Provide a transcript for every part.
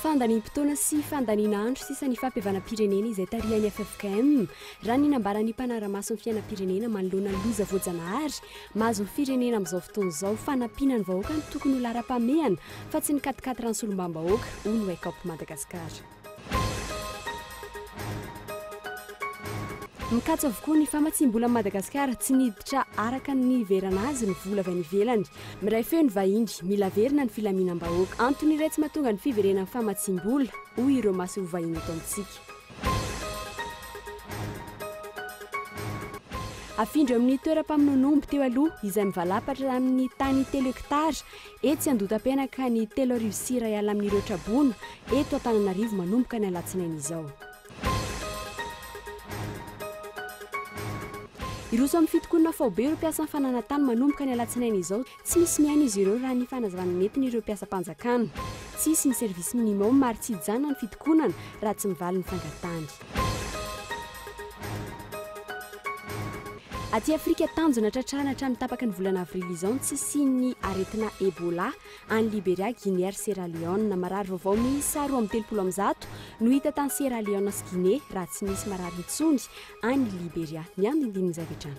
Fandaniam-potoana sy fandaniana andro sisa ny fampihavanam-pirenena izay tarihan'ny ffkm, raha ny nambaran'ny mpanara-maso ny fiainam-pirenena manoloana ny loza voajanahary mahazo ny firenena amin'izao fotoana izao. Fanampiana ny vahoaka no tokony ho laharam-pahamehana fa tsy ny katikaty rano solombam-bahoaka, hoy ny Wake Up Madagascar. Mikatso avokoa ny famatsiam-bola amin'i Madagasikara, tsy miditra araka ny niheverana azy ny vola avy any ivelany. Miray feo ny vahiny, mila averina ny filaminam-bahoaka. Antony iray tsy mahatonga ny fiverenan'ny famatsiam-bola, hoy ireo masoivoho vahiny eto amintsika. Afindra eo amin'ny toeram-pamonoan'omby teo aloha, izay mivalapatra amin'ny tany telo hektara, Etsy Andotapenaka, ny telo arivo sy iray alina amin'ireo traboina eto Antananarivo manomboka ny alatsinainy izao. Hiroso amin'ny fitokonana faobe ireo mpiasan'ny fananantany manomboka ny alatsinainy izao. Tsy misy mihaino izy ireo raha ny fanazavana nentin'ireo mpiasam-panjakana. Tsy hisy ny service minimum ary tsy hijanona ny fitokonana raha tsy mivaly ny fangatahany. Aty Afrika, tanjona tratrarina hatramin'ny tapaky ny volana avrily izao ny tsy hisian'ny aretina Ebola any Liberia, Guinée ary Sierra Leone. Marary vaovao miisa roa amby telopolo amin'ny zato no hita tany Sierra Leone sy Guinée raha tsy misy marary intsony any Liberia. Ny andindinin'izay avy hatrany.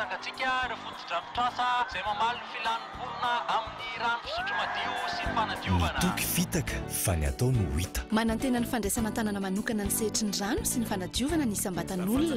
Tsangantsika ireo fotodrafitrasa izay mamaly ny filan'ny mponina amin'ny rano fisotro madio sy ny fanadiovana. Ny toky fitaka fa ny atao no hita. Manantena ny fandraisana an-tanana manokana ny sehatry ny rano sy ny fanadiovana ny isam-batan'olona.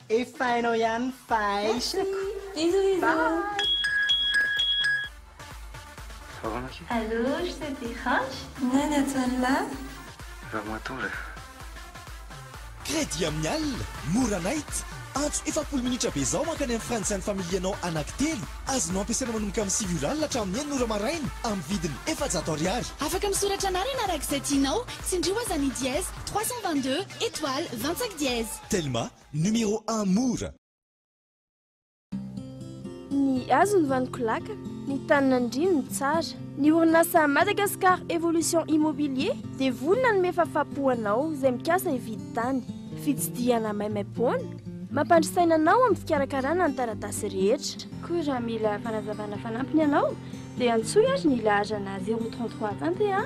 Efa hainao ihany fa aisako. Bisous bisous. Allô, je te dérange? Nani atsy anlah? Ramatoa re. Crédit amin'ny alina, mora night. Antso efapolo minitra avy izao mankany amin'ny Frantsa ny familianao anankitelo. Azonao ampiasaina manomboka amin'ny sivy ora alina hatramin'ny enina ora maraina amin'ny vidiny efajato ariary. Afaka misoratra anarana araka izay tianao, tsindrio aza ny dièse trois cent vingt-deux, étoile, vingt-cinq dièse. Telma, numéro un mora! Ny hazo ny vaniko laka, ny tany nandriany ny tsara. Ny orinasa Madagascar Evolution Immobilier dia vonona hanome fafapo anao izay mikasa hividy tany. Fitsidihana maimaimpoana, mampandry saina anao amin'ny fikarakarana ny taratasy rehetra. Koa raha mila fanazavana fanampiny ianao dia antsoy ary ny laharana zéro trente trois tante a!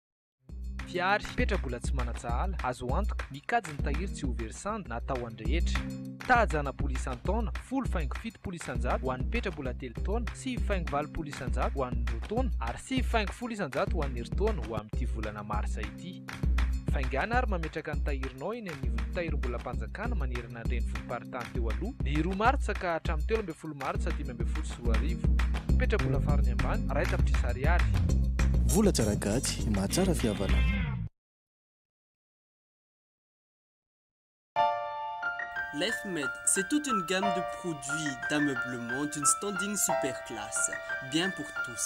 Mpihary hipetra mbola tsy manan-tsahala, azo antoka, mikajy ny tahiry tsy ho very sandy na atao any rehetra. Tahajana bola isan-taona, folo faingo fitopolo isan-jato ho an'ny petra mbola telo taona, sivy faingo valopolo isan-jato ho an'ny roa taona, ary sivy faingo folo isan-jato ho an'ny herintaona ho amin'ity volana marsa ity. Faingana ary mametraka ny tahirinao eny anivon'ny Tahirimbolam-panjakana manerana ny. Tanàna an-drenivohi-paritany teo aloha, ny roa martsa ka hatramin'ny telo ambin'ny folo martsa dimy ambin'ny folo sy roa arivo. Mipetra-bola farany ambany, iray tapitrisa ariary. Vola tsara gaty, mahatsara fihavana. Lefmed, c'est toute une gamme de produits d'ameublement d'une standing super classe, bien pour tous.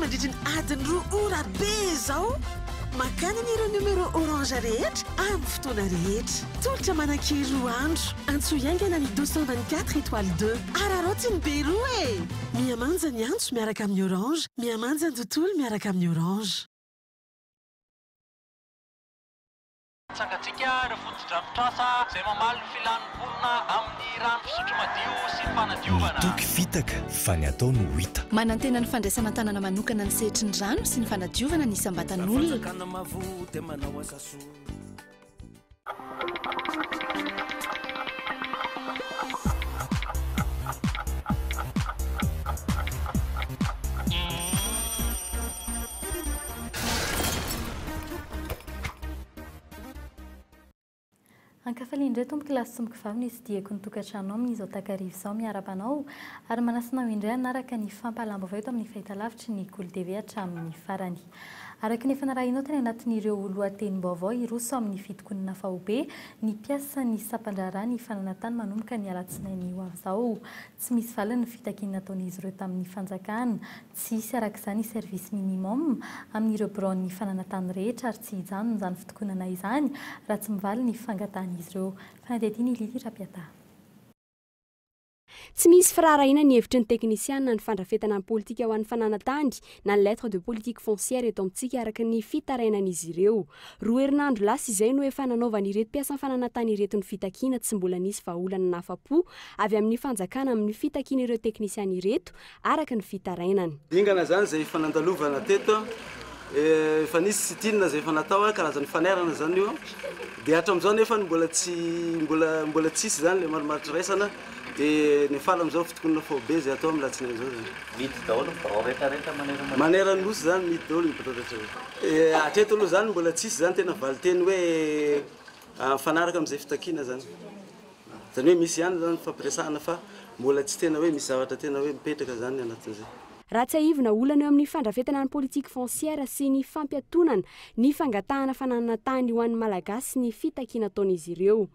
Mandritry ny adiny roa ora be izao, makany anie ireo numéro orange rehetra amin'ny fotoana rehetra. Tolotra manan-kery roa andro. Antsoy haingana ny 224 étoile 2. Araraoty ny be roa e! Mihamanja ny antso miaraka amin'ny orange, mihamanja ny tontolo miaraka amin'ny orange. Tsangantsika ireo fotodrafitrasa izay mamaly ny filan'ny mponina amin'ny rano fisotro madio sy ny fanadiovana. Ny toky fitaka fa ny atao no hita. Manantena ny fandraisana an-tanana manokana ny sehatry ny rano sy ny fanadiovana ny isam-batan'olona. Ankafaliana indray tompoko lahy sy tompoko vavy ny tsidihiko ny tokantranonao amin'izao takariva izao miarahaba anao ary manasa anao indray hanaraka ny fampahalam-baovao eto amin'ny fahitalavitry ny Kolo TV hatramin'ny farany. Araka ny efa narahinao tany anatin'ireo lohatenim-baovao hiroso amin'ny fitokonana faobe ny mpiasan'ny sampan-draharaha ny fananantany manomboka ny alatsinainy ho avy izao. Tsy misy valiny ny fitakiana nataon'izy ireo tamin'ny fanjakana. Tsy hisy araka izany service minimum amin'ireo biraon'ny fananantany rehetra ary tsy hijanona izany fitokonana izany raha tsy mivaly ny fangatahan'izy ireo. Fanadihadiana i Lily Rapiata. Tsy misy firaharahiana ny hevitry ny teknisiana ny fandrafetana ny politika ho an'ny fananantany na ny lettre de politique foncière eto amintsika araka ny fitarainan'izy ireo. Roa herinandro lasa izay no efa nanaovan'ireto mpiasan'ny fananantany ireto ny fitakiana tsy mbola nisy vahaolana nahafa-po avy amin'ny fanjakana amin'ny fitakian'ireo teknisiana ireto araka ny fitarainany. Dingana izany izay efa nandalovana teto, efa nisy sitinina izay efa natao, karazan'ny fanairana izany io, dia hatramin'izao nefa mbola tsy mbola mbola tsy hisy izany ilay marimaritra iraisana, dia ny faly amin'izao fitokonana faobe izay atao amin'ny alatsinainy izao izany. Mihidy daholo ny birao rehetra rehetra manerana ny. Manerana ny Nosy izany, mihidy daholo ny birao rehetra rehetra. Hatreto aloha izany mbola tsy hisy izany tena valinteny hoe mifanaraka amin'izay fitakiana izany. Zany hoe misy ihany zany fifampiresahana fa mbola tsy tena hoe misy zavatra tena hoe mipetraka zany anatin'izay. Raha tsiahivina, olana eo amin'ny fandrafetana ny politique foncière sy ny fampiatonana ny fangatahana fananana tany ho an'ny Malagasy ny fitakiana ataon'izy ireo.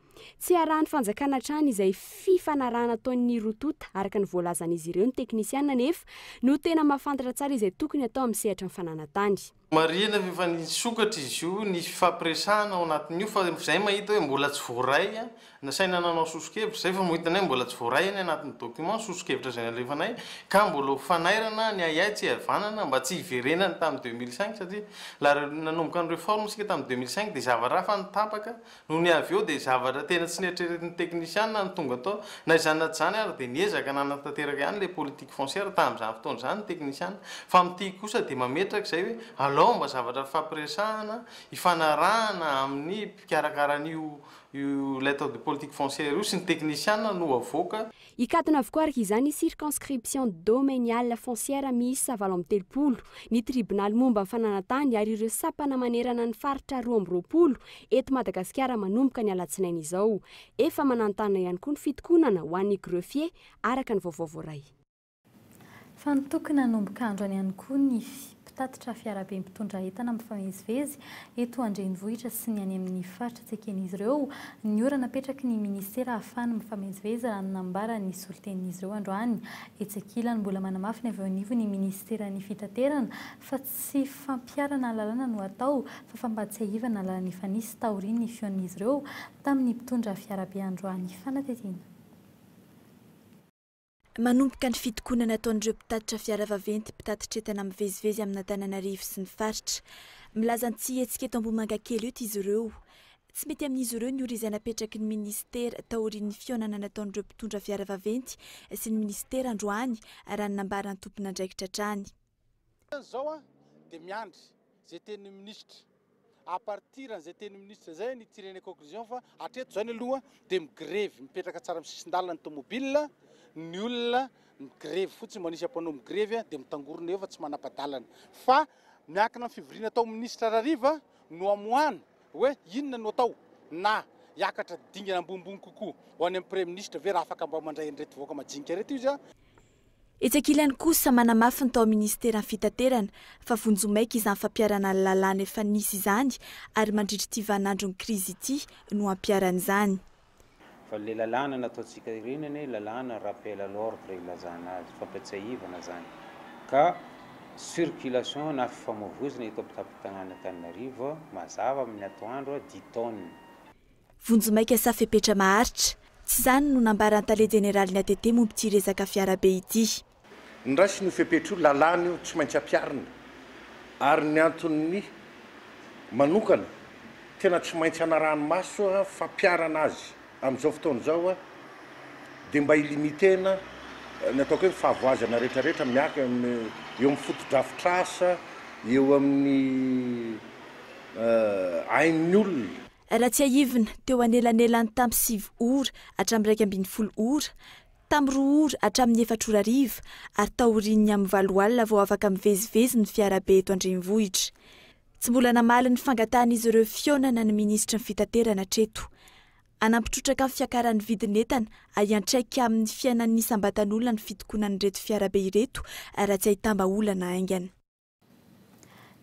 Tsy arahan'ny fanjakana hatrany izay fifanarahana ataon'ny roa tonta araka ny voalazan'izy ireo ny teknisiana anefa no tena mahafantatra tsara izay tokony atao amin'ny sehatry ny fananantany. Marihina fa efa nisokatra izy io, nisy fifampiresahana ao anatin'io fa izay mahita hoe mbola tsy voaray, nasaina nanao soso-kevitra izay fa mahita anay mbola tsy voaray any anatin'ny documents soso-kevitra izay nalefanay ka mbola ho fanairana ny ahiahy tsy hihavanana mba tsy hiverenany tamin'ny deux mille cinq satria la nanomboka ny reforme isika tamin'ny deux mille cinq dia zava-raha fa ny tapaka Nony avy eo dia zavatra tena tsy neritreretin'ny teknisiana no tonga tao. Na izany na tsy izany ary dia niezaka nanatanteraka ihany ilay politique foncière tamin'izany fotoana izany ny teknisiana. Fa amin'ny tiako kosa dia mametraka izay hoe alao mba zavatra hifampiresahana, hifanarahana amin'ny mpikarakara an'io ilay atao politique foncière io sy ny teknisiana no havoaka. Hikatona avokoa araka izany ny circonscription domaniale foncière miisa valo amby telopolo, ny tribonaly momba ny fananan-tany ary ireo sampana manerana ny faritra roa amby roapolo eto Madagasikara manomboka ny alatsinainy izao. Efa mananontanona ihany koa ny fitokonana ho an'ny greffier araka ny vaovao voaray. Fanotoky nanomboka androany ihany koa ny mpitatitra fiarabe mpitondra entana mifamezivezy eto an-drenivohitra sy ny any amin'ny faritra tsy eken'izy ireo ny ora napetraky ny minisitera ahafahany mifamezivezy raha ny nambaran'ny solontenin'izy ireo androany. Etsy ankilany, mbola manamafy ny avy eo anivon'ny minisiteran'ny fitaterana fa tsy fampiharana lalàna no atao fa fampahatsiahivana lalana efa nisy taorian'ny fihaonan'izy ireo tamin'ny mpitondra fiarabe androany. Fanadihadiana. Manomboka ny fitokonana ataon'ireo mpitatitra fiara vaventy mpitatitr'entana mivezivezy amin'Antananarivo sy ny faritra. Milaza ny tsy hihetsika eto Ambohimangakely eto izy ireo. Tsy mety amin'izy ireo ny ora izay napetraky ny minisitera taorian'ny fihaonana nataon'ireo mpitondra fiara vaventy sy ny minisitera androany, raha ny nambaran'ny tompon'andraikitra hatrany. Zao a de miandry zay tenin'ny ministra à partir an'izay tenin'ny ministra zay ny tirer ny conclusion fa hatreto zao ny aloha de migrevy mipetraka tsara amin'ny sisin-dalana ny tomobile ny olona migrevy fotsiny mba nisy mpanao migrevy a de mitangorona eo fa tsy manapa-dalana fa miankina amin'ny fivoriana atao ministra Rariva no amoahana hoe inona no atao na hiakatra dingana ambonimbony kokoa ho any amin'ny praiminisitra ve raha afaka mba mandray an'ireto vahoaka majinika ireto izy a Etsy ankilany kosa, manamafy ny tao amin'ny Minisiteran'ny Fitaterana fa vonjy ho maika izany fampiharana ny lalàna efa nisy izany ary mandritra ity vaninandron'ny krizy ity no hampiharana izany. Fa ilay lalàna nataontsika ireny anie lalàna rappel à l'ordre ilazana azy, fampiatsiahivana izany ka circulation na fifamoivoizana eto am-pitampon-tanànan'Antananarivo mazava amin'ny atoandro dit-on. Vonjimaika sa fepetra maharitra? Tsy izany no nambaran'ny tale jeneralin'ny ATT momba ity resaka fiarabe ity. Ny raisina io fepetra io, lalàna io, tsy maintsy ampiharina ary ny antony manokana tena tsy maintsy hanarahany maso fampiharana azy amin'izao fotoana izao dia mba hi-limiter-na ny ataoko hoe ny fahavoazana rehetrarehetra miank-eo amin'ny fotodrafitrasa, eo amin'ny ain'ny olona. Raha tsiahivina, teo anelanelan'ny tamin'ny sivy ora hatramin'ny iraika ambin'ny folo ora, tamin'ny roa ora hatramin'ny efatra ora hariva ary taorian'ny amin'ny valo alina vao afaka mivezivezy ny fiarabe eto an-drenivohitra. Tsy mbola namaly ny fangatahan'izy ireo fihaonana ny minisitry ny Fitaterana hatreto. Hanampy trotraka ny fiakaran'ny vidin'entana ary hiantraika amin'ny fiainan'ny isam-batan'olona ny fitokonan'ireto fiarabe ireto raha tsy ahitam-bahaolana haingana.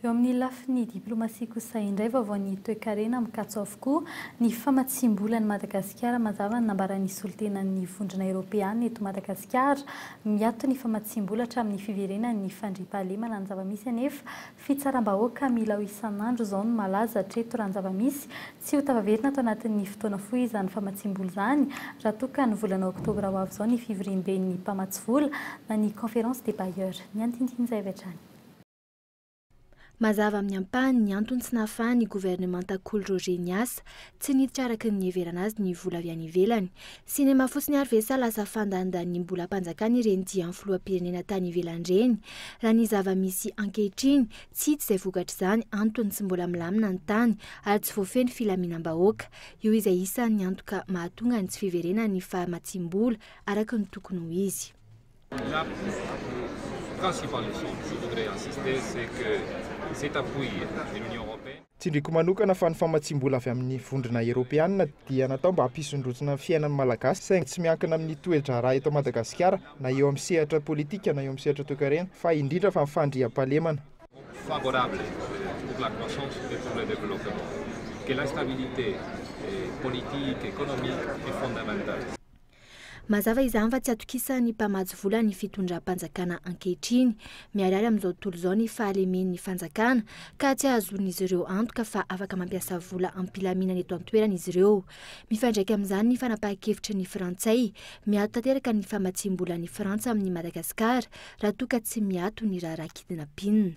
Eo amin'ny lafiny diplomasia kosa indray, vaovaon'ny toekarena mikatso avokoa ny famatsiam-bola an'i Madagasikara. Mazava ny nambaran'ny solontenan'ny Vondrona Eoropeana eto Madagasikara, miato ny famatsiam-bola hatramin'ny fiverenan'ny fandriampahalemana ny zava-misy anefa fitsaram-bahoaka milao isan'andro izao no malaza hatreto raha ny zava-misy Tsy ho tafaverina ato anatin'ny fotoana fohy izany famatsiam-bola izany raha toa ka ny volana oktobra ho avy izao ny fivoriamben'ny mpamatsy vola na ny Conférence des bailleurs. Ny andinidin'izay avy hatrany. Mazava amin'ny ampahany ny antony tsy nahafahan'ny governemanta Kolo Roger niasa. Tsy niditra araka ny niheverana azy ny vola avy any ivelany. Sinema fotsiny ary ve sa lasa fandanidanim-bolam-panjakana ireny dian'ny filoham-pirenena tany ivelany ireny? Raha ny zava-misy ankehitriny Tsy hita izay vokatr'izany antony tsy mbola milamina ny tany ary tsy voafehy filaminam-bahoaka. Io izay isan'ny antoka mahatonga ny tsy fiverenan'ny fahamatsiam-bola araka ny tokony ho izy. Tsindriako manokana fa ny famatsiam-bola avy amin'ny vondrona eropeanina dia natao mba hampisondrotsina ny fiainan'ny Malagasy saingy tsy miankina amin'ny toe-draharaha eto Madagasikara na eo amin'ny sehatra politika na eo amin'ny sehatra toekarena fa indrindra fa ny fandriampahalemana. favorable pour la croissance et pour le développement que l'instabilité politique, économique est fondamentale. Mazava izany fa tsy atokisan'ny mpamatsy vola ny fitondram-panjakana ankehitriny. Miharihary amin'izao tontolo izao ny fahalemen'ny fanjakana ka tsy ahazoan'izy ireo antoka fa afaka mampiasa vola am-pilaminana eto an-toerana izy ireo. Mifandraika amin'izany ny fanapahan-kevitry ny Frantsay. Miato tanteraka ny famatsiam-bolan'i Frantsa amin'i Madagasikara raha toa ka tsy miato ny raharaha kidnapping.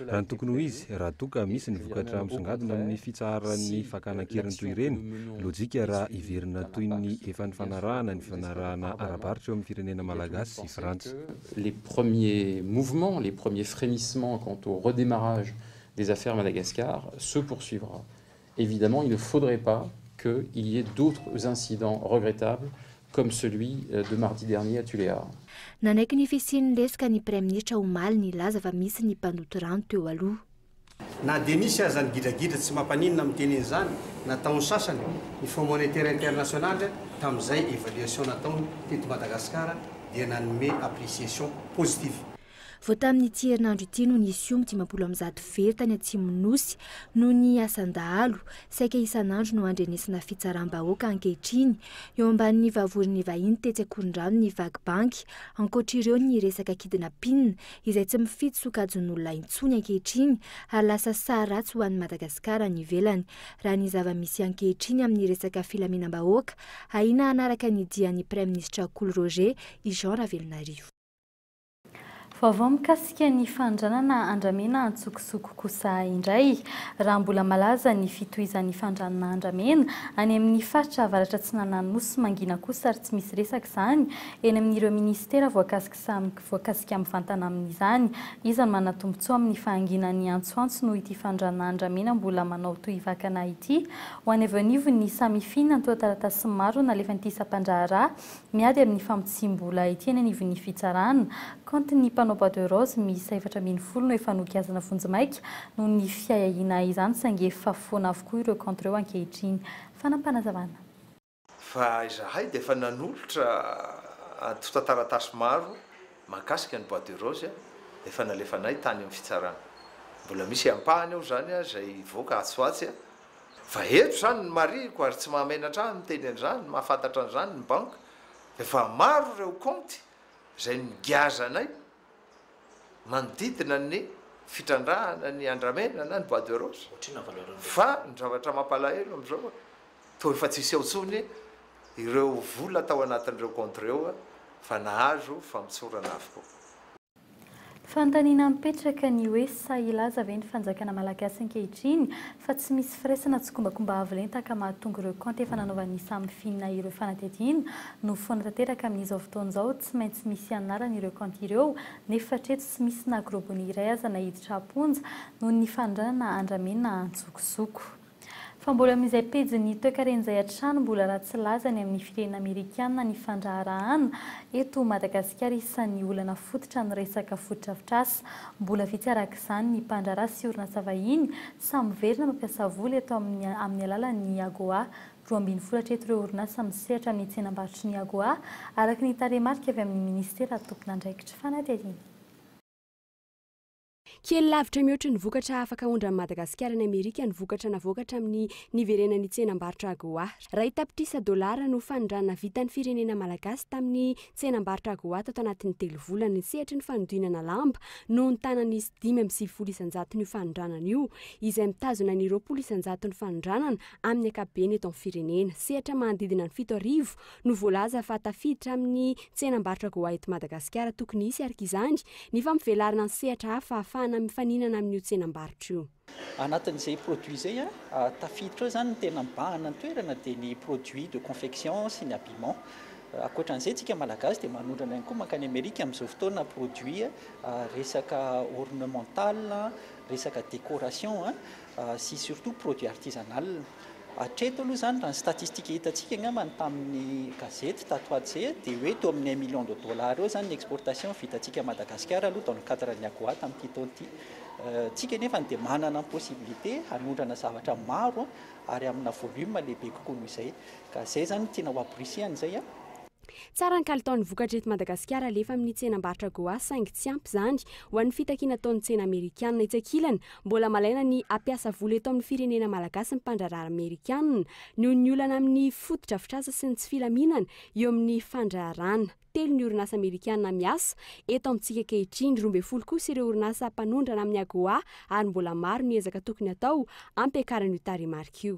Raha ny tokony ho izy, raha toa ka misy ny vokatra misongadina amin'ny fitsaharan'ny fakana an-keriny toy ireny, lojika raha hiverina toy ny efa nifanarahana ny fifanarahana ara-barotra eo amin'ny firenena malagasy sy Frantsa. les premiers mouvements, les premiers frémissements quant au redémarrage des affaires Madagascar se poursuivra Evidemment il ne faudrait pas que il y ait d'autres incidents regrettables comme celui de mardi dernier à Tuléar. Nanaiky ny fisian'ny lesoka ny Praiminisitra omaly nilaza fa misy ny mpandoto rano teo aloha. Na dia nisy aza ny gidragidra tsy mampaninona miteny an'izany nataon'ny sasany, ny Fonds Monétaire International tamin'izay évaluation nataony teto Madagasikara dia nanome appreciation positive. Vao tamin'ity herinandro ity no nisy omby dimampolo amby zato very tany Atsimon'ny Nosy noho ny asan-dahalo. Saika isan'andro no andrenesana fitsaram-bahoaka ankehitriny eo ambanin'ny vavorin'ny vahiny tetsy Ankorondrano ny vaky banky. Ankoatr'ireo ny resaka kidnapina izay tsy mifidy sokajin'olona intsony ankehitriny ary lasa saha ratsy ho an'i Madagasikara any ivelany raha ny zava-misy ankehitriny amin'ny resaka filaminam-bahoaka ahiana hanaraka ny dian'ny Praiminisitra Kolo Roger i Jean Ravelonarivo. Vaovao mikasika ny fandranana andramena an-tsokosoko kosa indray. Raha mbola malaza ny fitohizan'ny fandranana andramena any amin'ny faritra avaratra atsinanan'ny Nosy mangina kosa ary tsy misy resaka izany eny amin'ireo minisitera voakasika mivantana amin'izany. Iza no manatombotsoa amin'ny fahanginan'ny antsoantso noho ity fandranana andramena mbola manao tohivakana ity? Ho any avy eo anivon'ny Samifi, nantonataratasy maro nalefan'ity sampandraharaha Miady amin'ny famotsiam-bola ety anivon'ny fitsarana, kaontin'ny mpanao bois de rose miisa efatra ambin'ny folo no efa nogiazana vonjimaika noho ny fiahiahiana izany saingy efa foana avokoa ireo kaonty ireo ankehitriny. Fanam-panazavana. Fa izahay dia efa nanolotra antontan-taratasy maro mahakasika ny bois de rose efa nalefanay tany amin'ny fitsarana. Mbola misy ampahany ao izany izay hivoaka atsy ho atsy Fa eto izany ny marihiko ary tsy mahamenatra ahy ny miteny an'izany, mahafantatra an'izany ny banky, efa maro ireo kaonty izay nogiazanay manodidina ny fitrandrahana ny andramena na ny bois de rose. Fa ny zavatra mampalahelo amin'izao, toa efa tsy hiseho intsony ireo vola tao anatin'ireo kaonty ireo fa nahazo famotsorana avokoa. Fanontaniana mipetraka ny hoe sahy hilaza ve ny fanjakana malagasy ankehitriny fa tsy misy firaisana tsikombakomba avo lenta ka mahatonga ireo kaonty efa nanaovan'ny samy finina ireo fanadihadiana no foana tanteraka amin'izao fotoana izao tsy maintsy misy anarany ireo kaonty ireo nefa hatreto tsy misy na grobony iray aza naiditra am-ponja noho ny fanondranana andramena antsokosoko. Fa mbola amin'izay pejin'ny toekarena izay hatrany mbola ratsy laza any amin'ny firenena amerikana ny fandraharahana eto Madagasikara isan'ny olana fototra ny resaka fotodrafitrasa. Mbola vitsy araka izany ny mpandraharaha sy orinasa vahiny sahy miverina mampiasa vola eto amin'ny amin'ny alalan'ny AGOA. Roa ambin'ny folo hatreto ireo orinasa misehatra amin'ny tsenambarotry ny AGOA araka ny tarehimarika avy amin'ny minisitera tompon'andraikitra. Fanadihadiana. Kely lavitra mihoatry ny vokatra afaka aondran'i Madagasikara any Amerika ny vokatra navoaka hatramin'ny niverenan'ny tsenam-barotra AGOA. Iray tapitrisa dolara no fanondranana vitan'ny firenena malagasy tamin'ny tsenam-barotra AGOA tato anatin'ny telo volana. Ny sehatry ny fanodinana lamba no nitanan'izy dimy amby sivifolo isan-jaton'io fanondranana io, izay mitazona ny roapolo isan-jaton'ny fanondranana amin'ny ankapobeny eto amin'ny firenena. Sehatra manodidina ny fito arivo no voalaza fa tafiditra amin'ny tsenam-barotra Go Ahead Madagasikara tokony hisy arka izany ny fampivelarana ny sehatra hafa ahafahana mifaninana amin'io tsenam-barotra io. Anatin'izay produit izay tafiditra ao izany ny tena mibahana ny toerana dia ny produit de confection sy ny habillement. Ankoatran'izay isika malagasy dia manondrana ihany koa mankany Amerika amin'izao fotoana produit resaka ornemental, resaka décoration sy surtout produit artisanal. Hatreto aloha izany raha ny statistika hitantsika angamba ny tamin'ny gazety tato ho atsy dia hoe teo amin'ny un million de dollars eo izany ny exportation vitantsika à Madagascar aloha dans le cadre ny AGOA tamin'ity taona ity. Tsika anefa dia manana ny possibilité hanondrana zavatra maro ary amina volume lehibe kokoa noho izay. Ka izay izany no tiana ho ampirisihan izay. Tsara ny kalitaon'ny vokatra eto Madagasikara alefa amin'ny tsenam-barotra Goa saingy tsy ampy izany ho an'ny fitakiana ataon'ny tsena amerikana. Etsy ankilany, mbola malaina ny hampiasa vola eto amin'ny firenena malagasy ny mpandraharaha amerikana noho ny olana amin'ny fotodrafitrasa sy ny tsy filaminana eo amin'ny fandraharahana. Telo ny orinasa amerikana miasa eto amintsika ankehitriny, roa ambin'ny folo kosa ireo orinasa mpanondrana amin'ny Agoa ary mbola maro ny ezaka tokony hatao hampiakarana io tarehimarika io.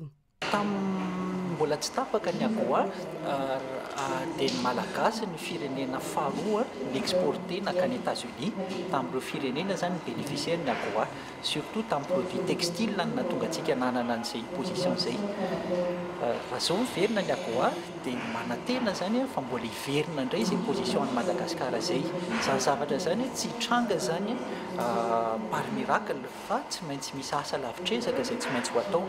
Tamin'ny mbola tsy tapaka ny AGOA dia ny Malagasy no firenena faharoa ni-exporter nankany Etats-Unis tamin'ireo firenena izany ny beneficiaires ny AGOA, surtout tamin'ny produits textiles no nahatonga antsika nanana an'izay position izay. Raha izao miverina ny AGOA dia manantena izany aho fa mbola hiverina indray izay position an'i Madagasikara izay. Izany zavatra izany tsy hitranga izany par miracle. Fa tsy maintsy misy asa lavitr'ezaka izay tsy maintsy ho atao.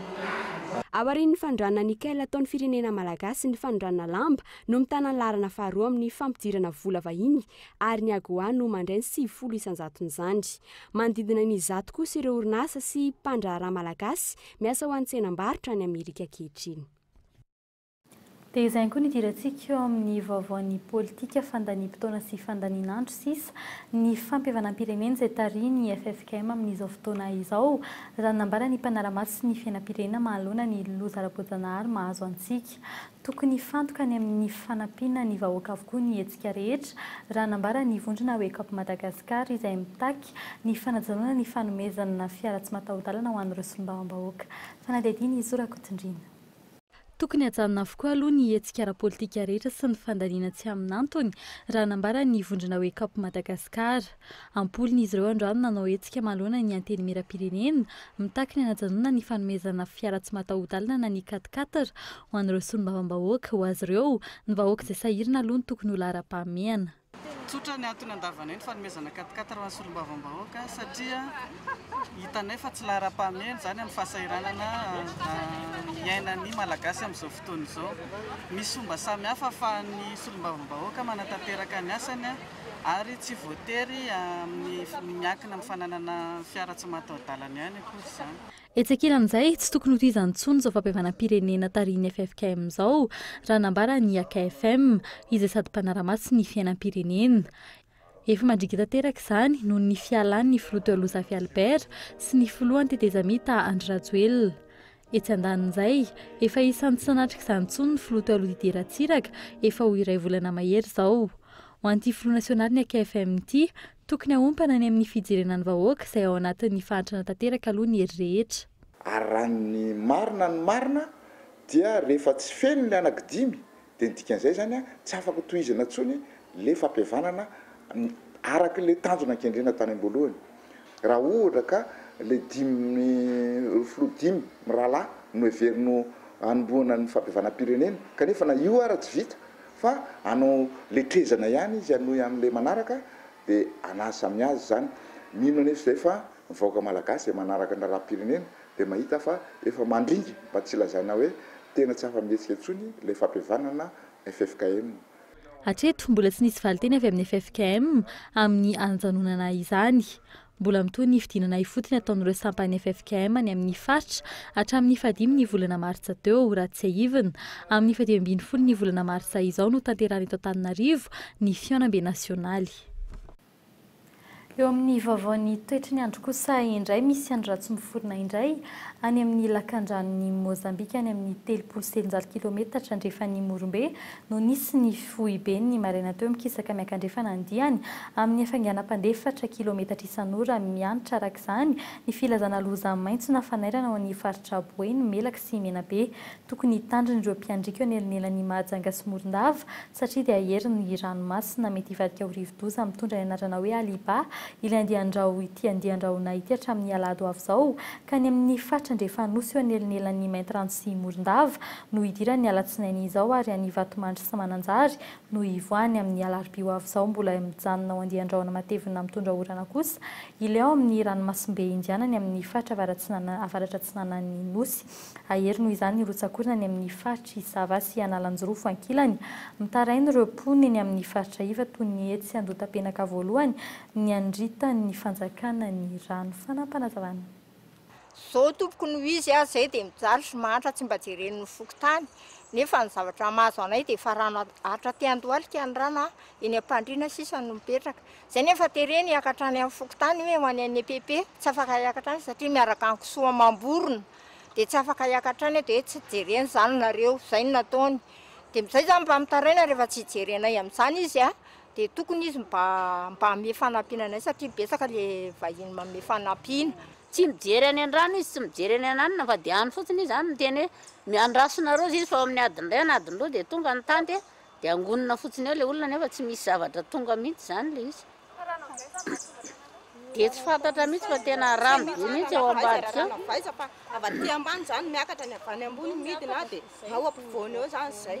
Aorian'ny fanondranana Nickel ataon'ny firenena malagasy ny fanondranana lamba no mitana ny laharana faharoa amin'ny fampidirana vola vahiny ary ny Agoa no mandray ny sivifolo isan-jaton'izany. Manodidina ny zato kosa ireo orinasa sy mpandraharaha malagasy miasa ho an'ny tsenam-barotra any Amerika ankehitriny. Dia izay ihany koa ny idirantsika eo amin'ny vaovaon'ny politika, fandaniam-potoana sy fandanian'andro sisa, ny fampihavanam-pirenena izay tarihin'ny ffkm amin'izao fotoana izao. Izany nambaran'ny mpanara-maso ny fiainam-pirenena mahaloana ny loza ara-boajanahary mahazo antsika. Tokony hifantoka any amin'ny fanampiana ny vahoaka avokoa ny hetsika rehetra, raha nambara ny vondrona Wake Up Madagascar izay mitaky ny fanajanona ny fanomezana fiara tsy mataho-dalana ho an'ireo solombavambahoaka. Fanadihadiana Izo Rakotondriana. Tokony hajanona avokoa aloha ny hetsika ara-politika rehetra sy ny fandaniana tsy amin'antony, raha nambaran' ny vondrona Wake-up Madagascar. Am-polony izy ireo androany nanao hetsika manoloana ny Antenimierampirenena, mitaky ny hanajanona ny fanomezana fiara tsy mataho-dalana na ny quat-quatre ho an'ireo solombavambahoaka. Ho azy ireo, ny vahoaka izay sahirana aloha no tokony ho laharam-pahamehana. Tsotra ny antony andavanay ny fanomezana quatre quatre ho an'ny solombavambahoaka satria hitanay fa tsy laharam-pahamehana izany amin'ny fahasahiranana iainan'ny Malagasy amin'izao fotoana izao. Misy fomba samihafa ahafahan'ny solombavambahoaka manatanteraka ny asany ary tsy voatery amin'ny miankina amin'ny fananana fiara tsy mataho-dalana ihany akory izany. Etsy ankilan'izay, tsy tokony hotohizana intsony izao fampihavanam-pirenena tarihin'ny ffkm izao, raha nambara ny akfm, izay sady mpanara-maso ny fiainam-pirenena. Efa mandringa tanteraka izany noho ny fialan'ny filoha teo aloha Zafy Albert sy ny filohan'ny tetezamita Andry Rajoelina. Etsy andanin'izay, efa isan'ny tsy nanatrika izany intsony ny filoha teo aloha Didier Ratsiraka efa ho iray volana mahery izao. Ho an'ity filoha nasionalin'ny akfm ity, Tokony haompana any amin'ny fijerena ny vahoaka izay ao anatin'ny fahantrana tanteraka aloha ny hery rehetra. Ary raha ny marina ny marina dia rehefa tsy feno ny anaky dimy dia ny dikan'izay izany a, tsy afaka tohizana intsony le fampihavanana araky le tanjona an-kendrena tany am-boalohany. Raha ohatra ka le dimy filoha dimy mirahalahy no heveriny ho hanombohana ny fampihavanam-pirenena kanefa na io ara tsy vita Fa hanao letrezana ihany izy hanohy amin'ilay manaraka dia anazy samy azy izany. Mino anefa izay fa ny vahoaka malagasy izay manaraka ny raharaham-pirenena dia mahita fa efa mandringa mba tsy lazaina hoe tena tsy afa-mihetsika intsony ilay fampihavanana ffkm. Hatreto, mbola tsy nisy valinteny avy amin'ny ffkm amin'ny hanjanonana izany. Mbola mitohy ny fidinana ifotony ataon'ireo sampan'ny ffkm any amin'ny faritra hatramin'ny fahadimy ny volana martsa teo, raha tsiahivina. Amin'ny fahadimy ambin'ny folo ny volana martsa izao no tanterahana eto Antananarivo ny fihaonambe nasionaly. Eo amin'ny vaovaon'ny toetry ny andro kosa indray misy andro ratsy miforona indray any amin'ny lakandranon'i Mozambika any amin'ny telopolo sy telonjato kilometatra andrefan'i Morombe no nisy ny foiben'ny maraina teo mikisaka miankandrefana ny diany amin'ny hafainganam-pandeha efatra kilometatra isan'ora miantra araka izany ny filazana loza maitso na fanairana ho an'ny faritra Boeny, Melaky sy Menabe. Tokony hitandrina ireo mpiandriaka eo anelanelan'i Mahajanga sy Morondava satria dia herin'ny ranomasina mety hivadika ho rivodoza mitondra ny anarana hoe Aliba ilay andian-drahona ity andian-drahona ity hatramin'ny alahady ho avy izao ka ny amin'ny faritra andrefan'Nosy eo anelanelan'i Maintirano sy Morondava no hidiran'ny alatsinainy izao ary any Vatomandry sy Mananjary no hivoahany amin'ny alarobia ho avy izao mbola mijanona ao andian-drahona matevina mitondra orana kosa ilay ao amin'ny ranomasimbe indianany amin'ny faritra avaratsinanan avaratratsinanan-ny nosy ahery noho izany ny rotsakorina any amin'ny faritry sava sy analanjirofo ankilany mitaraina ireo mponina eny amin'ny faritra iva toy ny etsy andotapenaka voalohany ny anrita ny fanjakana ny rano fanampanazavana Zao tompoko no izy a, zay dia mijaly sy mahantra tsy mba jereny ny fokontany, nefa ny zavatra mahazo anay dia efa rano hatra aty andohalika ny rano a, eny ampandriana sisa no mipetraka, zay nefa tereny hiaka hatrany amin'ny fokontany hoe ho any an'i EPP, tsy afaka hiaka hatrany satria miaraka an'i kisoa amam-borona, dia tsy afaka hiaka hatrany aho dia hoe tsy jereny zany nareo, zay no nataony, dia zay zany mba mitaraina rehefa tsy hijerenay amin'izany izy a, Dia tokony izy mba mba hanome fanampiana anay satria betsaka le vahiny manome fanampiana. Tsy mijery any andrano izy, tsy mijery any ananona fa dia any fotsiny izy any miteny hoe miandrasonareo zay izy fa ao amin'ny adiny iray na adiny roa dia tonga ny tanty dia angonina fotsiny eo le olona nefa tsy misy zavatra tonga mihitsy izany le izy dia tsy fantatra mihitsy fa tena haramy be mihitsy eo ambadika eo. Avy aty ambany izany miakatra ny avy any ambony midina dia ao ampovoany eo izany izay.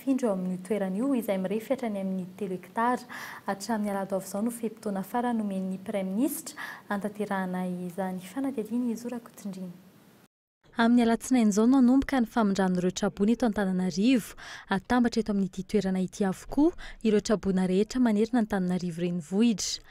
Findro eo amin'io toerana io, izay mirefy hatrany amin'ny telo hektara. Hatramin'ny alahado avy izao no fe-potoana farany nomen'ny Praiminisitra hanatanterahana izany fanadihadiana izao Rakotondrana. Amin'ny alatsinainy izao no hanomboka ny famindran'ireo traboina eto Antananarivo. Hatambatra eto amin'ity toerana ity avokoa ireo traboina rehetra manerana Antananarivo renivohitra.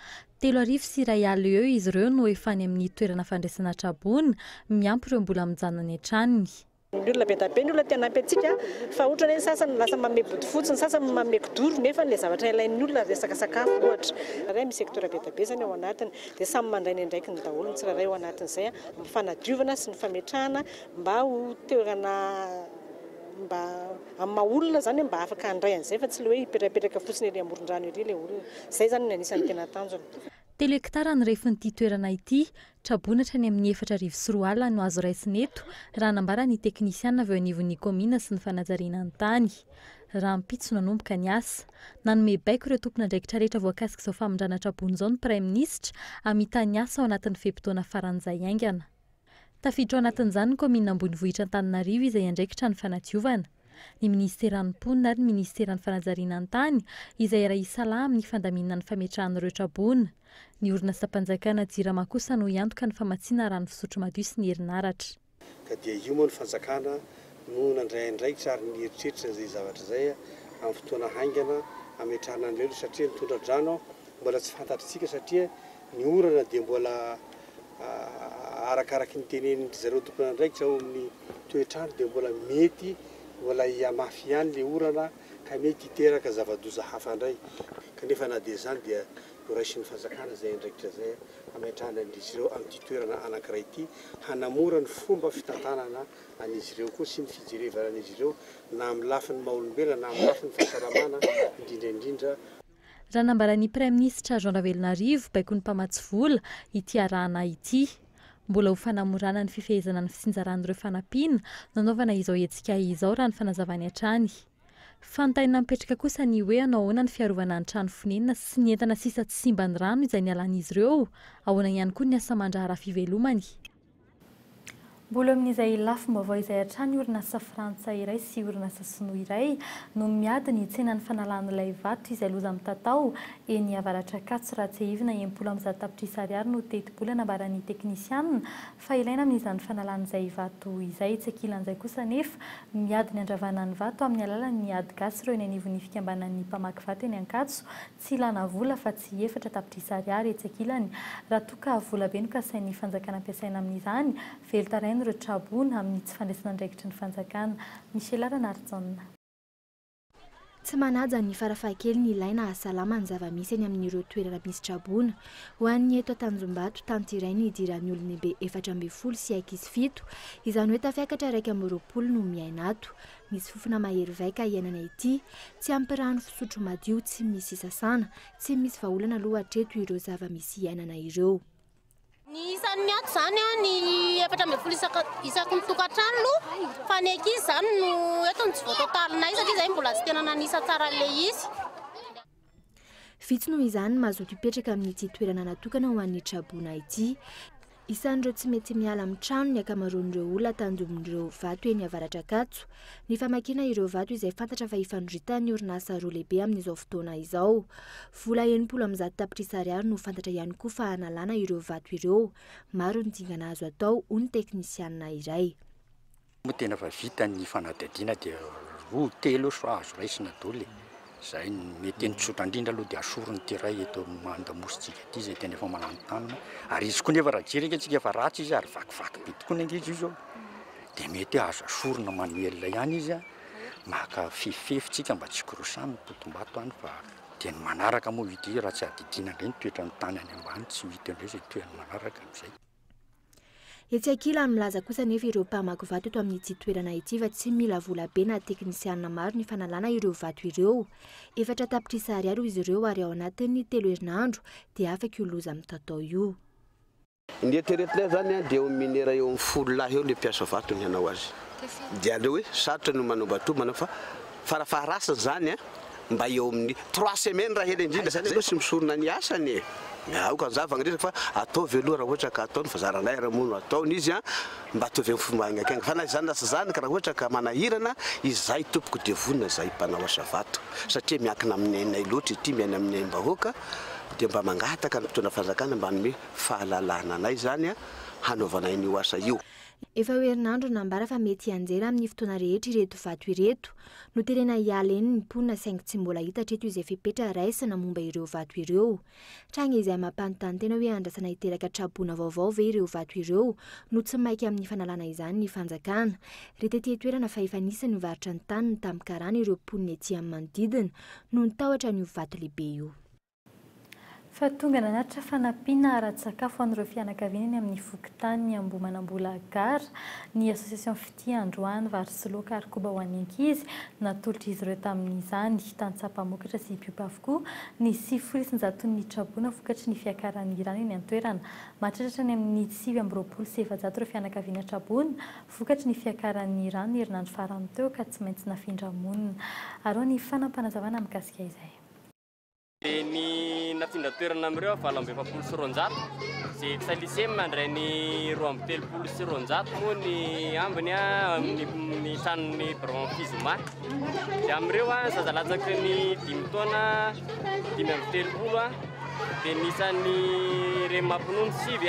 Telo arivo sy iray alina eo izy ireo no efa any amin'ny toerana fandraisana traboina, miampy ireo mbola mijanona any an-tranony. Ny olona be dia be ny olona te hanampy antsika fa ohatra hoe ny sasany lasa manome bodofotsy, ny sasany manome kidoro nefa ilay zavatra ilain'ny olona resaka sakafo ohatra. Raha misy secteur be dia be izany ao anatiny dia samy mandray ny andraikiny daholo ny tsirairay ao anatin'izay amin'ny fanadiovana sy ny fametrahana mba ho toerana mba amin'ny maha olona izany hoe mba afaka handray an'izay fa tsy ilay hoe hipetrapetraka fotsiny ery amoron-drano ery ilay olona. Izay izany no anisan'ny tena tanjona. Telo hektara ny refin'ity toerana ity Traboina hatrany amin'ny efatra arivo sy roa alina no azo raisina eto, raha nambaran' ny teknisiana avy eo anivon'ny kaominina sy ny fanajariana ny tany. Rahampitso no hanomboka ny asa. Nanome baiko ireo tompon'andraikitra rehetra voakasik'izao famindrana traboina izao ny Praiminisitra, hamita ny asa ao anatin'ny fe-potoana faran'izay haingana. Tafiditra ao anatin'izany ny kaominina ambonivohitra Antananarivo izay andraikitra ny fanadiovana, ny minisiteran'ny mponina ary ny minisiteran'ny fanajariana ny tany izay iray hisalahy amin'ny fandaminana ny fametrahana ireo traboina. Ny orinasam-panjakana Jirama kosa no hiantoka ny famatsiana rano fisotro madio sy ny herinaratra. Ka dia io moa ny fanjakana no nandray andraikitra ary nieritreritra izay zavatra izay amin'ny fotoana haingana hametrahana an'ireo aloha satria ny tondradrano mbola tsy fantatritsika satria ny orana dia mbola arakaraky ny tenenin-dry zareo tompon'andraikitra ao amin'ny toetr'andro dia mbola mety mbola hihamafy ihany ilay orana ka mety hiteraka zava-doza hafa indray kanefa na dia izany dia Ho raisin'ny fanjakana izay andraikitra izay hametrahany an'izy ireo amin'ity toerana anankiray ity, hanamora ny fomba fitantanana an'izy ireo koa sy ny fijerevanan'izy ireo na amin'ny lafiny maha-olombelona na amin'ny lafiny fahasalamana indrindra indrindra. Raha nambaran'ny Praiminisitra Jean Ravelonarivo, baikon'ny mpamatsy vola, ity arahana ity. Mbola ho fanamorana ny fifehezana ny fitsinjaran'ireo fanampiana no anaovana izao hetsika izao raha ny fanazavany hatrany. Fanontaniana mipetraka kosa ny hoe hanao ahoana ny fiarovana ny trano fonenana sy ny entana sisa tsy simban'ny rano izay nialan'izy ireo? Ahoana ihany koa ny asa aman-draharaha fivelomany? Mbola eo amin'izay lafim-baovao izay hatrany orinasa frantsay iray sy orinasa sinoa iray no miady ny tsenan'ny fanalan'ilay vato izay loza mitatao eny Avaratr'Ankatso raha tsiahivina enimpolo amby zato tapitrisa ariary no tetibola nambaran'ny teknisianina Fa ilaina amin'izany fanalana izay vato izay. Tsy ankilan'izay kosa anefa, ny miady ny handravana ny vato amin'ny alalan'ny ady gasy ireo eny anivon'ny fikambanan'ny mpamaky vato eny Ankatso. Tsy ilana vola afa-tsy efatra tapitrisa ariary etsy ankilany. Raha toa ka vola be no kasain'ny fanjakana ampiasaina amin'izany, velon-tarain'ireo Trabona amin'ny tsy fandraisan'andraikitry ny fanjakana. Michela Ranarison. Tsy manaja ny farafahakeliny ilaina hahasalama ny zava-misy eny amin'ireo toerana misy traboina. Ho an'ny eto Antanjombato, tany iray ny hidiran'ny olon-dehibe efatra ambin'ny folo sy ankizy fito, izany hoe tafiakatra iraika amby roapolo no miaina ato. Misy fofona mahery vaika iainana ety. Tsy ampy rano fisotro madio, tsy misy sasana. Tsy misy vahaolana aloha hatreto ireo zava-misy iainana ireo. Ny isan'ny miato izany an, ny efatra ambin'ny folo isaka, isaky ny tokantrano aloha, fa ny ankizy izany no eto no tsy voatotalinay satria izay mbola tsy tena nanisa tsara an'ilay izy. Vitsy noho izany ny mazoto hipetraka amin'ity toerana natokana ho an'ny traboina ity. Isan'ireo tsy mety miala amin'ny trano ny ankamaroan'ireo olona tanjomin'ireo vato eny Avaradrakajo. Ny famakiana ireo vato izay fantatra fa ifandroritan'ny orinasa roa lehibe amin'izao fotoana izao. Vola enimpolo amby zato tapitrisa ariary no fantatra ihany koa fa hanalana ireo vato ireo. Maro ny dingana azo atao, hoy ny teknisianina iray. Moa tena efa vita ny fanadihadiana dia roa telo eo sao azo raisina daholo e! Izay no mety eny. Tsotra indrindra aloha dia asorina ity iray eto amin'ny Andamosintsika ity izay tena efa mananontanona. Ary izy koa nefa raha jery ange tsika efa ratsy izy ary vakivaky be tokoa ny ange izy io izao. Dia mety hoe azo asorina manuel ihany izy a! Maka fefifefy tsika mba tsy hikorosana ny totom-bato any fa. Dia ny manaraka moa ity raha tsy adidina indray ny toetran'ny tany any ambany, tsy ho hita eo indray izay toeran'ny manaraka amin'izay. Etsy ankilany, milaza kosa anefa ireo mpamaky vato eto amin'ity toerana ity fa tsy mila vola be na teknisianina maro ny fanalana ireo vato ireo. Efatra tapitrisa ariary hoy izy ireo ary ao anatin'ny telo herinandro dia afaka io loza mitaotao io. Ny eritreretinay izany an, dia eo amin'ny minera eo amin'ny folo lahy eo ilay mpiasa vato ny hanao azy. Dia aleo hoe sarotra ny manova toa manao fa farafaharasiny izany an, mba eo amin'ny trois semaines raha ela indrindra, izany aloha tsy misorona ny asany e! Aoka hanjava ny resaka fa ataovy aloha raha ohatra ka ataony fa zaranay ary moa no ataony izy an, mba ataovy amin'ny fomba haingaikainga fa na izany na tsy izany ka raha ohatra ka manahirana izahay tompoko dia vonona izahay mpanao asa vato satria miankina amin'ny ainay loatra ity, miaina amin'ny aim-bahoaka dia mba mangataka ny mpitondra fanjakana mba hanome fahalalana anay izany hanaovana an'io asa io. Efa ho herinandro no nambara fa mety hianjera amin'ny fotoana rehetra ireto vato ireto. Noterena hiala eny ny mponina saingy tsy mbola hita hatreto izay fepetra raisina momba ireo vato ireo. Tranga izay mampanontany tena hoe andrasana hiteraka tra-boina vaovao ve ireo vato ireo no tsy maika amin'ny fanalana izany ny fanjakana. Ry tety an-toerana fa efa nisy nivarotra ny taniny tamin'ny karana ireo mponina ety amin'ny manodidina noho ny tahotra an'io vato lehibe io. fa tonga nanatitra fanampiana ara-tsakafo ho an'ireo fianakaviana eny amin'ny fokontany Ambohimanambola Gare ny Association Fitia Androany vary sy laoka ary koba ho an'ny ankizy, natolotr'izy ireo tamin'izany tantsaha mpamokatra sy mpiompy avokoa ny sivifolo isanjaton'ny mitraboana vokatry ny fiakaran'ny rano eny an-toerana. Mahatratra hatrany amin'ny sivy amby roapolo sy efajato ireo fianakaviana traboina vokatry ny fiakaran'ny rano ny herinandro farany teo ka tsy maintsy nafindra-monina. Arao ny fanapanazavana mikasika izay. Dia ny nafindra toerana amin'ireo valo amby efapolo sy roanjato izay tsy lycée mandray ny roa amby telopolo sy roanjato moa ny ambiny amin'ny tranon'ny Bron Fizoma. Dia amin'ireo zaza latsaky ny dimy taona dimy amby telopolo dia ny isan'ny reny mampinono sivy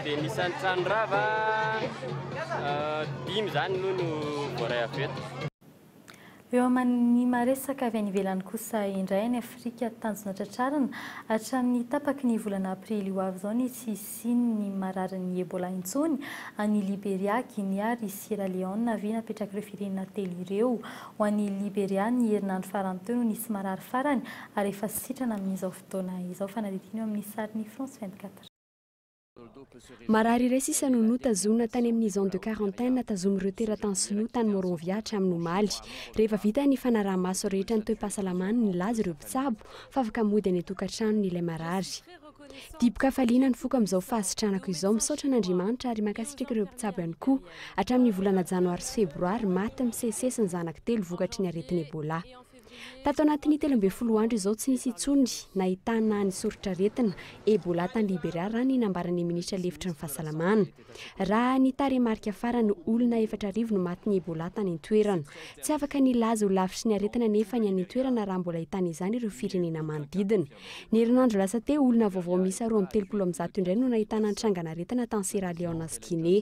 dia ny isan'ny tranorava dimy izany no voaray avy eto. Eo amin'ny maha-resaka avy any ivelany kosa indray any Afrika, tanjona tratrarina hatramin'ny tapaky ny volana aprily ho avy izao ny tsy hisian'ny mararin'ny Ebola intsony any Liberia, Guinea ary Sierra Leone avy napetrak'ireo firenena telo ireo. Ho an'i Liberia, ny herinandro farany teo no nisy marary farany ary efa sitrana amin'izao fotoana izao, fanadihadiana eo amin'ny sarin'i France 24. Marary iray sisa no notazonina tany amin'ny zone de quarantaine tazomin'ireo teratany sinoa tany Monrovia hatramin'ny omaly. Rehefa vita ny fanaraha-maso rehetra ny toe-pahasalamany, nilaza ireo mpitsabo fa afaka mody any an-tokantranony ilay marary. Dibo-kafaliana nifoka amin'izao fahasitranako izao. Misaotra an'Andriamanitra ary mankasitraka ireo mpitsabo ihany koa. Hatramin'ny volana janoary sy febroary, maty misesisesy ny zanako telo vokatry ny aretin'Ebola. Tato anatin'ny telo ambin'ny folo andro izao tsy nisy intsony nahitana ny soritr'aretina Ebola tany Liberia raha ny nambaran'ny minisitra lefitry ny fahasalamana. Raha ny tarehimarika farany, olona efatra arivo no matin'ny Ebola tany an-toerana. Tsy afaka nilaza ho lavitry ny aretina anefa ny any an-toerana raha mbola hitana izany ireo firenena manodidina. Ny herinandro lasa teo, olona vaovao miisa roa amby telopolo amin'ny zato indray no nahitana ny trangan'aretina tany Sierra Leone sy Guinée.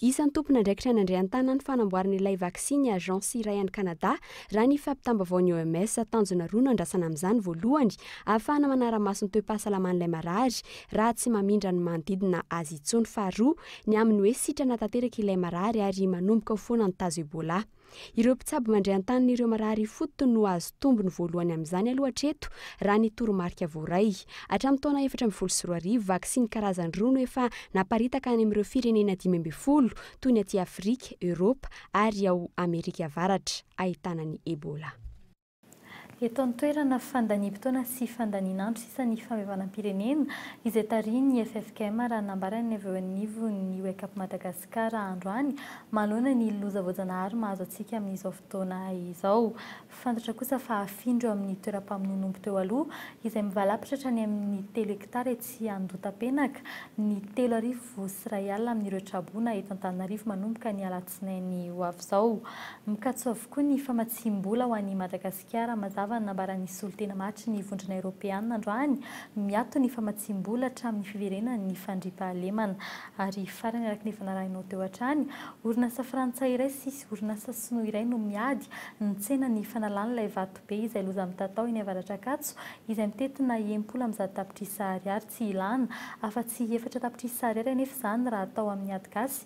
Isan'ny tompon'andraikitra nandray an-tanana ny fanamboarana ilay vaksiny agence iray any Canada, raha ny fampitam-baovaon'ny OMS. Tanjona roa no andrasana amin'izany, voalohany, ahafahana manara-maso ny toe-pahasalaman'ilay marary raha tsy mamindra ny manodidina azy intsony, faharoa, ny amin'ny hoe sitrana tanteraka ilay marary ary manomboka ho foana ny tazo Ebola. Ireo mpitsabo mandray an-tanin'ireo marary ifotony no hahazo tombony voalohany amin'izany aloha hatreto, raha ny toromarika voaray. Hatramin'ny taona efatra ambin'ny folo sy roa arivo, vaksiny karazany roa no efa naparitaka any amin'ireo firenena dimy ambin'ny folo, toy ny aty Afrika, Eoropa ary ao Amerika Avaratra, ahitana ny Ebola. Eto an-toerana, fandaniam-potoana sy fandanian'andro sisa ny famevanam-pirenena, izay tarihin'ny ffkm, raha nambaran'ny avy eo anivon'ny Wake-up Madagascar androany, manoloana ny loza voajanahary mahazo antsika amin'izao fotoana izao. Fantatra kosa fa afindra eo amin'ny toeram-pamonoan'omby teo aloha, izay mivalapatra hatrany amin'ny telo hektara etsy Andotapenaka, ny telo arivo sy iray alina amin'ireo traboina eto Antananarivo manomboka ny alatsinainy Alatsinainy ho avy izao. Mikatso avokoa ny famatsiam-bola ho an'i Madagasikara. Mazava ny nambaran'ny solontena mahatry ny Vondrona Eoropeana androany, miato ny famatsiam-bola hatramin'ny fiverenan'ny fandriampahalemana. Ary farany araka ny efa narahinao teo hatrany, orinasa frantsay iray sy orinasa sinoa iray no miady ny tsenan'ny fanalan'ilay vato be izay loza mitatao eny Avaratr'Ankatso izay mitentina enimpolo amby zato tapitrisa ariary tsy ilana afa-tsy efatra tapitrisa ariary anefa izany raha atao amin'ny ady gasy